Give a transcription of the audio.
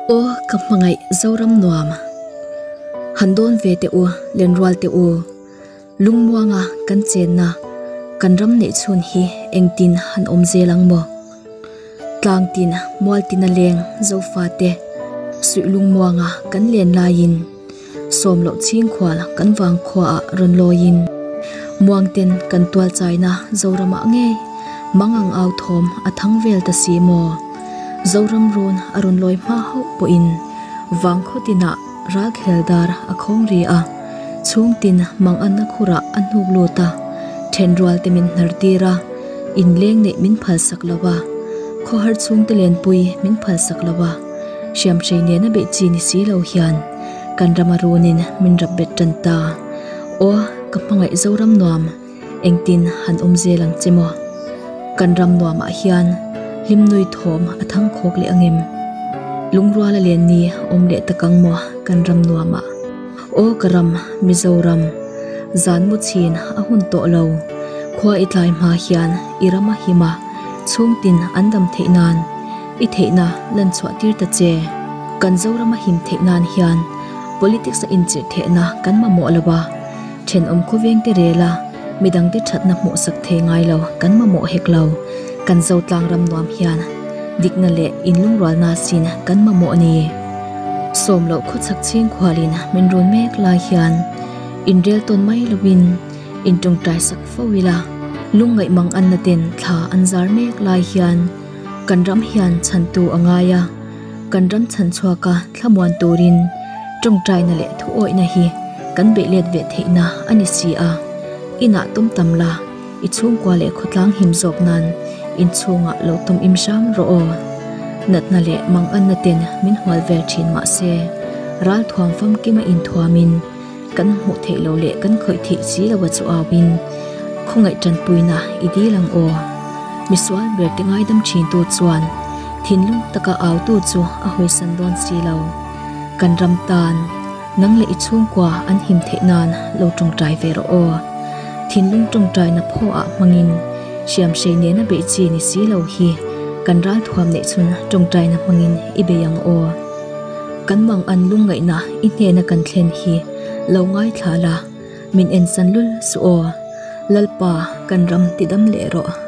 Aw ka hmangaih Zoram nuam han dawn ve teh u Lenrual teh u lungmuanga kan chenna kan ram neih chhun hi engtin han awm zel ang maw? Tlang tin mual tina leng Zofa te suih lungmuanga kan len laiin sawm loh ching khual kan vang khuaah rawn lawiin muang ten kan tual chaina Zoramah nge mangang au thawm a thang vel ta si maw? Zoram run a rawn lawi hma hauh pawhin vang khaw tinah Ralkhel dar a khawngri a, chhung tin mang a na khur ah a hnuk lut a, then rual te min hnar tir a, in leng neih min phal sak lo a, khaw har chhung te len pui min phal sak lo a, hriam hrei nen a beih chi ni si lo hian kan ram a run in min rap bet tan ta. Aw ka hmangaih zo ram nuam. Engtin han awm zel ang che maw? Kan ram nuamah hian hlimnui thawm a thang khawk leh ang em? Lungruala lian ni awm leh tak ang maw kan ram nuamah? Aw ka ram, Mizoram, zan mu chhin a hun tawh lo. Khua i tlai hma hian i ram a him a, chhung tin an dam theih nan i theihna lan chhuah tir ta che. Kan Zoram a him theih nan hian politics a inchirh thehna kan mamawh lo a. Thenawm khawveng te rel a, midang te thatna hmuhsak thei ngai lo, kan mamawh hek lo. Kan zotlang ram nuam hian dikna leh in lungrualna sin kan mamawh a ni. Sawm loh khawchhak chhingkhual in min run mek lai hian in rel tawn mai lovin in tawngtai sak fo ila, lungngaih mang anna ten thla an zar mek lai hian kan ram hian chhantu a ngai a, kan ram chhan chhuak a. Thlamuan turin tawngtaina leh thuawihna hi kan beih let ve theihna a ni si a, inah tum tam la, i chhungkua leh khawtlang him zawk nan inchhungah lo tum im hram rawh aw. Natna leh manganna ten min hual vel thin mah se, ral thuam famkima inthuamin, Kan hmuh theih lo leh kan khawih theih si lo a chu au in khawngaih tanpuina i dil ang aw. Misual ber te ngaidam thin tu chuan thinlung taka au tu chu a hawisan dawn si lo. Kan ram tan nang leh i chhungkua an him theih nan lo tawngtai ve rawh aw. Thinlung tawngtai na phaw ah hmang in hriam hrei nen a beih chi ni si lo hi kan ral thuam neih chhun tawngtai na hmang in i bei ang aw. Kan mang an lungngaihna i hnena kan thlen hi lo ngaithla la, min ensan lul suh aw. Lalpa, kan ram tidam leh rawh.